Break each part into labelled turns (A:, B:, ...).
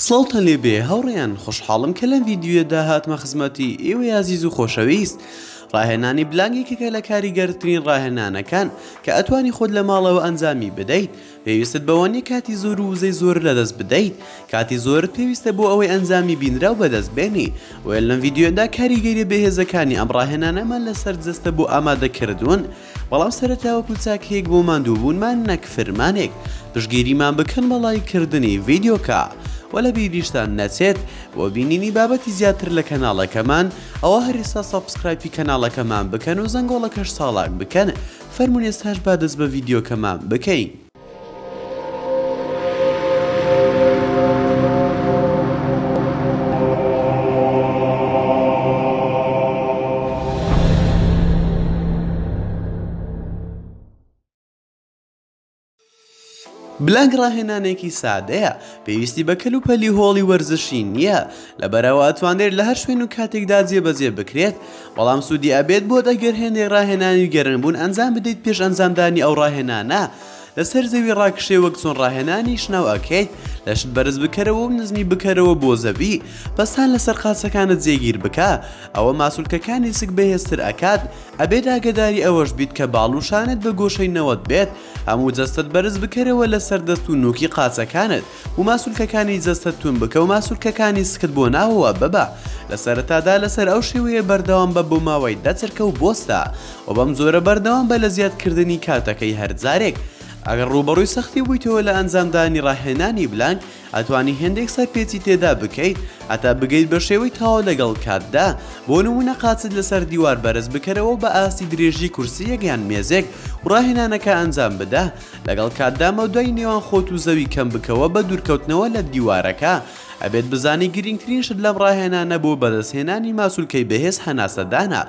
A: سڵاوتان لێ بێ هاوڕێیان خۆشحاڵم کە لەم ڤیدیۆیەدا هاتمە خزمەتی ئێوەی ئازیز و خۆشەویست ڕاهێنانی بلانگ یەکێکە لە کاریگەرترین ڕاهێنانەکان کە ئەتوانی خۆت لە ماڵەوە ئەنجامی بدەیت پێویستت بەوە نیە کاتی زۆر و وزەی زۆر لەدەست بدەیت کاتی زۆرت پێویستە بۆ ئەوەی ئەنجامی بینراو بەدەست بێنی وێل لەم ڤیدیۆدا کاریگەریە بەهێزەکانی ئەم ڕاهێنانەمان لەسەر جەستە بۆ ئامادەکردوون بەڵام سەرەتا وەکو چاک هێک بۆ ماندوو بوونمان نەک فرمانێک پشگیریمان بکەن بە ڵایک کردنی ڤیدیۆکە وە لە بیریشتان نەچێت بۆ بینینی بابەتی زیاتر لە کەناڵەکەمان ئەوە هەر ئێستا سەبسکرایپی کەناڵەکەمان بکەن و زەنگۆڵەکەش چاڵاک بکەن فەرموون ئێستاش با دەست بە ڤیدیۆکەمان بکەین. بلاگ ڕاهێنانێکی سادەیە پێویستی بە کەل و پەلی هۆڵی وەرزشی نییە لەبەرەوە ئەتوانرێت لە هەر شوێن و کاتێکدا جێبەجێ بکرێت بەڵام سوودی ئەبێت بۆت ئەگەر هێندێک ڕاهێنانی گەرنبوون ئەنجام بدەیت پێش ئەنجامدانی ئەو ڕاهێنانە لەسەر زەوی ڕاکشێ وەک چۆن ڕاهێنانی شناو ئەکەیت لەشت بەرز بکەرەوە و نزمی بکەرەوە بۆ زەوی پەستان لەسەر قاچەکانت جێگیر بکە ئەوە ماسولکەکانی سک بەهێزتر ئەکات ئەبێت ئاگەداری ئەوەش بیت کە باڵ و شانت بە گۆشەی نەوەد بێت هەموو جەستەت بەرز بکەرەوە لەسەر دەست و نوکی قاچەکانت و ماسولکەکانی جەستەت توند بکە و ماسولکەکانی سکت بۆ ناوەوە ببە لە سەرەتادا لەسەر ئەو شێوەیە بەردەوام بە بۆ ماوەی دە چرکە و بۆستە و بەم جۆرە بەردەوام بە لە زیادکردنی کاتەکەی هەر جارێک ئەگەر ڕووبەڕووی سەختی بوویتەوە لە ئەنجامدانی ڕاهێنانی بلانک ئەتوانی هێندێک سەرپێچی تێدا بکەیت هەتا بگەیت بە شێوەی تەواو لەگەڵ کاتدا بۆ نمونە قاچت لەسەر دیوار بەرز بکەرەوە بە ئاستی درێژی کورسییەک یان مێزێک و ڕاهێنانەکە ئەنجام بدە لەگەڵ کاتدا مەودای نێوان خۆت و زەوی کەم بکەوە بە دوورکەوتنەوە لە دیوارەکە ئەبێت بزانی گرنگترین شت لەم ڕاهێنانە بۆ بەدەستهێنانی ماسولکەی بەهێز هەناسەدانە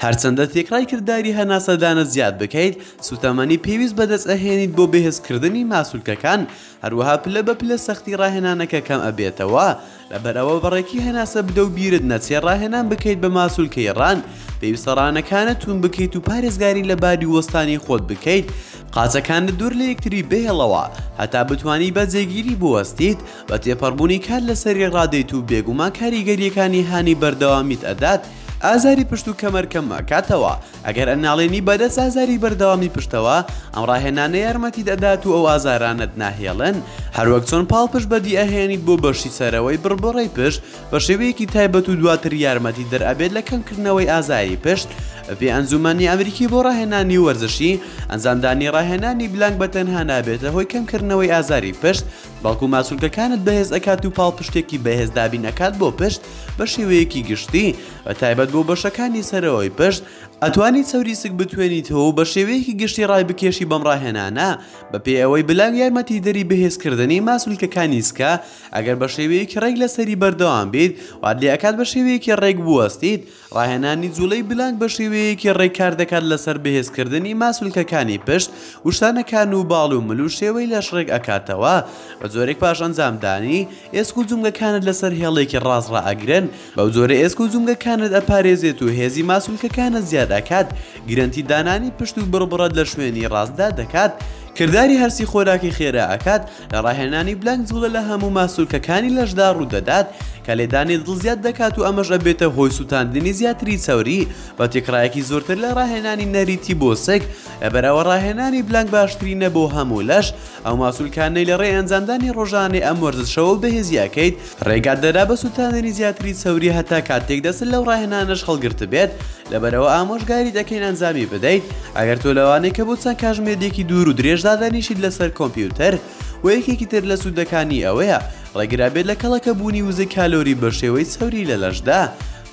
A: هەرچەندە تێکڕای کرداری هەناسەدانە زیاد بکەیت سوتەمەنی پێویست بەدەست ئەهێنیت بۆ بەهێزکردنی ماسولکەکان هەروەها پلە بە پلە سەختی ڕاهێنانەکە کەم ئەبێتەوە لەبەرئەوە بەڕێکی هەناسە بدە و بیرت نەچێ ڕاهێنان بکەیت بە ماسولکەی ڕان، پێویستە ڕانەکانت توون بکەیت و پارێزگاری لە باری وەستانی خۆت بکەیت، قاچەکانت دوور لە یەکتری بهێڵەوە هەتا بتوانی بە جێگیری بوەستیت، بە تێپەڕبوونی کات لەسەری ڕادێیت و بێگومان کاریگەرییەکانی هانی بەردەوامیت ئەدات ئازاری پشت و کەمەر کەم ئەکاتەوە، ئەگەر ئەناڵێنی بەدەست ئازاری بەردەوامی پشتەوە، ئەم ڕاهێنانە یارمەتیت ئەدات و ئەو ئازارانەت ناهێڵن. هەروەک چۆن پاڵپشت بەدی ئەهێنیت بۆ بەشی سەرەوەی بڕبڕەی پشت بە شێوەیەکی تایبەت و دواتر یارمەتی دەر ئەبێت لە کەمکردنەوەی ئازاری پشت، بەپێی ئەنجومەنی ئەمریکی بۆ ڕاهێنانی وەرزشی، ئەنجامدانی ڕاهێنانی بلانک بە تەنها نابێتە هۆی کەمکردنەوەی ئازاری پشت، بەڵکو ماسولکەکانت بەهێز ئەکات و پاڵپشتێکی بەهێز دابین ئەکات بۆ پشت بە شێوەیەکی گشتی بە تایبەت بۆ بەشەکانی سەرەوەی پشت ئەتوانی چەوری سک بتوێنیتەوە و بە شێوەیەکی گشتی ڕای بکێشی بەم ڕاهێنانە بە پێی ئەوەی بلاک یارمەتی دەری بەهێزکردنی ماسولکەکانی سکە ئەگەر بە شێوەیەکی ڕێک لەسەری بەردەوام بیت وات لێ ئەکات بە شێوەیەکی ڕێک بوەستیت ڕاهێنانی جوڵەی بلانک بە شێوەیەکی ڕێک کار دەکات لەسەر بەهێزکردنی ماسولکەکانی پشت و شانەکان و باڵ و مل و شێوەی لەش ڕێک ئەکاتەوە بە جۆرێک پاش ئەنجامدانی ئێسک و جومگەکانت لەسەر هێڵێکی ڕاست ڕائەگرن بەو جۆرە ئێسک و جومگەکانت ئەپارێزێت و هێزی ماسولکەکانت زیاد ئەکات گرەنتی دانانی پشت و بڕبڕەت لە شوێنی ڕاستدا دەکات کرداری هەرسی خۆراکی خێرا ئەکات لە ڕاهێنانی بلەنک جوڵە لە هەموو ماسولکەکانی لەشدا ڕوودەدات کە لێدانی دڵ زیاد دەکات و ئەمەش ئەبێتە هۆی سوتاندنی زیاتری چەوری بە تێکڕایەکی زۆرتر لە ڕاهێنانی نەریتی بۆ سک لەبەرئەوە ڕاهێنانی بلەنک باشترینە بۆ هەموو لەش ئەو ماسولکانەی لەڕێی ئەنجامدانی ڕۆژانەی ئەم وەرزشەوە بەهێزیاکەیت ڕێگات دەدا بە سوتاندنی زیاتری چەوری هەتا کاتێک دەستت لەو ڕاهێنانەش هەڵگرتبێت، لەبەرئەوە ئامۆژگاریت ئەکەین ئەنجامی بدەیت، ئەگەر تۆ لەوانەی کە بۆ چەند کاژمێریەکی دوور و درێژ دادەنیشیت لەسەر کۆمپیوتەر، وە یەکێکی تر لە سودەکانی ئەوەیە ڕێگرابێت لە کەڵەکە بوونی وزەی کالۆری بەشێوەی چەوری لە لەشدا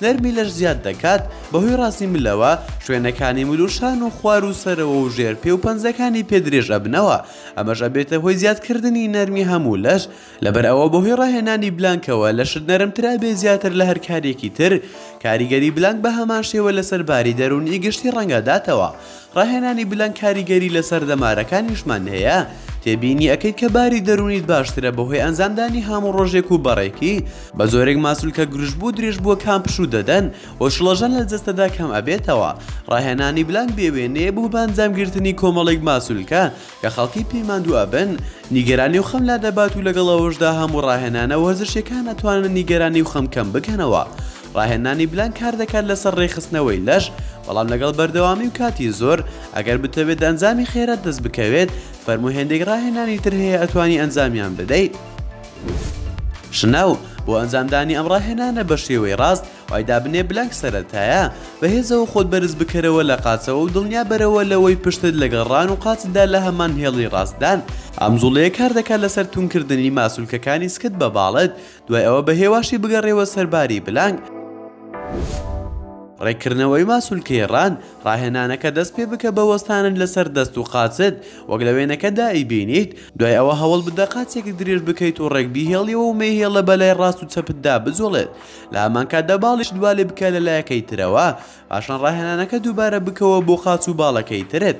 A: نەرمی لەش زیاد دەکات بەهۆی ڕاستی ملەوە شوێنەکانی مل و شان و خوار و سەرەوە و ژێر پێ و پەنجەکانی پێ درێژ ئەبنەوە ئەمەش ئەبێتە هۆی زیادکردنی نەرمی هەموو لەش لەبەر ئەوە بەهۆی ڕاهێنانی بلانکەوە لەشت نەرمترا بێ زیاتر لە هەر کارێکی تر کاریگەری بلانک بە هەمان شێوە لەسەر باری دەروونی گشتی ڕەنگداتەوە ڕاهێنانی بلانک کاریگەری لەسەر دەمارەکانیشمان هەیە تێبینی ئەکەیت کە باری دەروونیت باشترە بەهۆی ئەنجامدانی هەموو ڕۆژێک و بەڕێکی بە جۆرێک ماسولکە گرژبوو و درێژبووەکان پشوو دەدەن و شڵەژان لە جەستەدا کەم ئەبێتەوە ڕاهێنانی بلانک بێ وێنەیە بۆ بە ئەنجامگرتنی کۆمەڵێک ماسولکە کە خەڵکی پێی ماندوو ئەبن، نیگەرانی و خەم لادەبات و لەگەڵ ئەوەشدا هەموو ڕاهێنانە وەرزشیەکان ئەتوانن نیگەرانی و خەم کەم بکەنەوە، ڕاهێنانی بلان کار دەکات لەسەر ڕێکخستنەوەی لەش، بەڵام لەگەڵ بەردەوامی و کاتی زۆر، ئەگەر بتەوێت ئەنجامی خێرات دەست بکەوێت، فەرموو هێندێک ڕاهێنانی تر هەیە ئەتوانی ئەنجامیان بدەیت. شناو، بۆ ئەنجامدانی ئەم ڕاهێنانە بە شێوەی ڕاست، وای دابنێ بلاک سەرەتایە بەهێزەوە خۆت بەرز بکەرەوە لە قاچەوە و دڵنیا بەرەوە لەوەی پشتت لەگەڵ ڕان و قاچتدا لە هەمان هێڵی ڕاستدان، ئەم جوڵەیە کار دەکات لەسەر توندکردنی ماسولکەکانی سکت بە باڵت، دوای ئەوە بە هێواشی بگەڕێوە سەر باری بلانک. ڕێککردنەوەی ماسولکەی ڕان، ڕاهێنانەکە دەست پێ بکە بە وەستانت لەسەر دەست و قاچت وەک لە وێنەکەدا ئەیبینیت، دوای ئەوە هەوڵ بدە قاچێکت درێژ بکەیت و ڕێک بیهێڵیەوە و مەیهێڵە بەلای ڕاست و چەپتدا بجوڵێت، لە هەمان کاتدا باڵیش دوالێ بکە لە لایەکەی ترەوە پاشان ڕاهێنانەکە دووبارە بکەوە بۆ قاچ و باڵەکەی ترت.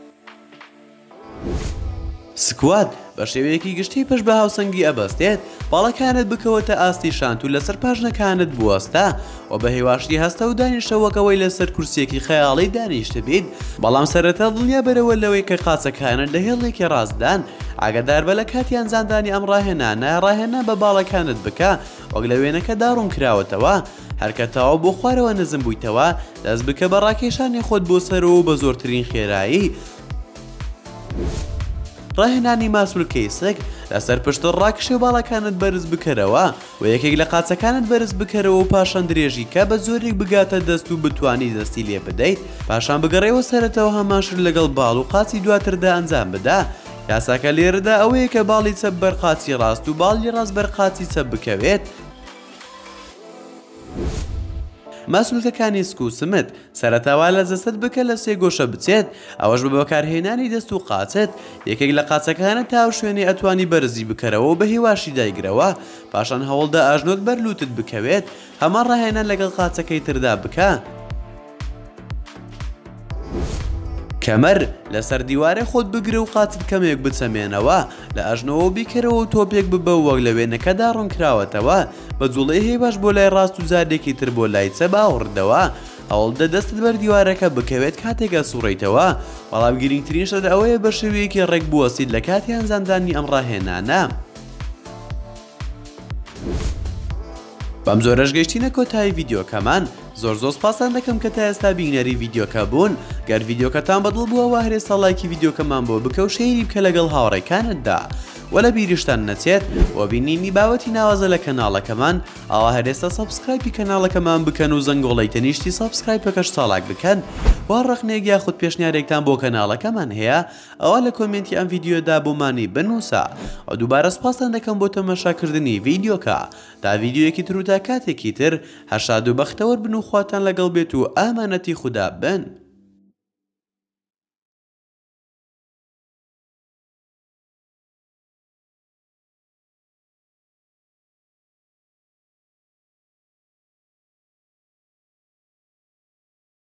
A: سکوات، بە شێوەیەکی گشتی پشت بە هاوسەنگی ئەبەستێت، باڵەکانت بکەوە تا ئاستی شانت و لەسەر پاژنەکانت بوەستە و بە هێواشی هەستە و دانیشە وەک ئەوەی لەسەر کورسییەکی خەیاڵی دانیشتبیت، بەڵام سەرەتا دڵنیا بەرەوە لەوەی کە قاچەکانت لە هێڵێکی ڕاستدان، ئاگاداربە لە کاتی ئەنجامدانی ئەم ڕاهێنانە ڕاهێنان بە باڵەکانت بکە وەک لە وێنەکەدا ڕوونکراوەتەوە، هەرکە تەواو بۆ خوارەوە نزم بوویتەوە، دەست بکە بە ڕاکێشانی خۆت بۆ سەرەوە و بە زۆرترین خێرایی، ڕاهێنانی ماسولکەی سک، لەسەر پشتت ڕاکشێ و باڵەکانت بەرز بکەرەوە و یەکێک لە قاچەکانت بەرز بکەرەوە و پاشان درێژی کە بە جۆرێک بگاتە دەست و بتوانی دەستی لێ بدەیت، پاشان بگەڕێوە سەرەتەوە هەمان شت لەگەڵ باڵ و قاچی دواتردا ئەنجام بدە. یاساکە لێرەدا ئەوەیە کە باڵی چەپ بەر قاچی ڕاست و باڵی ڕاست بەر قاچی چەپ بکەوێت. ماسولکەکانی سک و سمت، سەرەتا وا لە جەستەت بکە لە سێ گۆشە بچێت، ئەوەش بە بەکارهێنانی دەست و قاچت، یەکێک لە قاچەکانت تا ئەو شوێنەی ئەتوانی بەرزی بکەرەوە و بە هێواشی دایگرەوە، پاشان هەوڵدە ئەژنۆت بەر لووتت بکەوێت، هەمان ڕاهێنان لەگەڵ قاچەکەی تردا بکە. کەمەر لەسەر دیوارێ خۆت بگرە و قاچت کەمێک بچەمێنەوە لە ئەژنەوە بیکەرەوە و تۆپێک ببە وەک لە وێنەکەدا ڕوونکراوەتەوە بە جوڵەی هەی باش بۆ لای ڕاست و جارێکی تر بۆ لای چە باوەڕدەوە هەوڵدە دەستت بەر دیوارەکە بکەوێت کاتێکە سوڕیتەوە بەڵام گرنگترین شت ئەوەیە بە شێوەیەکی ڕێک بوەسیت لە کاتی ئەنجامدانی ئەم ڕاهێنانە. بەم جۆرەش گەشتینە کۆتایی ڤیدیۆکەمان زۆر زۆر سپاسان دەکەم کە تا ئێستا بینەری ڤیدیۆکە بوون گەر ڤیدیۆکەتان بەدڵ بووە وە هەرێ ساڵایکی ڤیدیۆکەمان بۆ بکە و شەیری بکە لەگەڵ هاوڕێکانتدا وە لە بیریشتان نەچێت بۆ بینینی باوەتی ناوازە لە کەناڵەکەمان ئاوا هەرێستا سەبسکرایپی کەناڵەکەمان بکەن و زەنگۆڵی تەنیشتی سەبسکرایپەکەش چاڵاک بکەن وا ڕەخنێک یاخود پێشنیارێکتان بۆ کەناڵەکەمان هەیە ئەوا لە کۆمێنتی ئەم ڤیدیۆدا بۆمانی بنووسە و دووبارە سوپاستان دەکەم بۆ تەماشاکردنی ڤیدیۆکە تا ڤیدیۆیەکی تر و تا کاتێکی تر هەر شاد و بەختەوەر بن و خواتان لەگەڵ بێت و ئامانەتی خودا بن.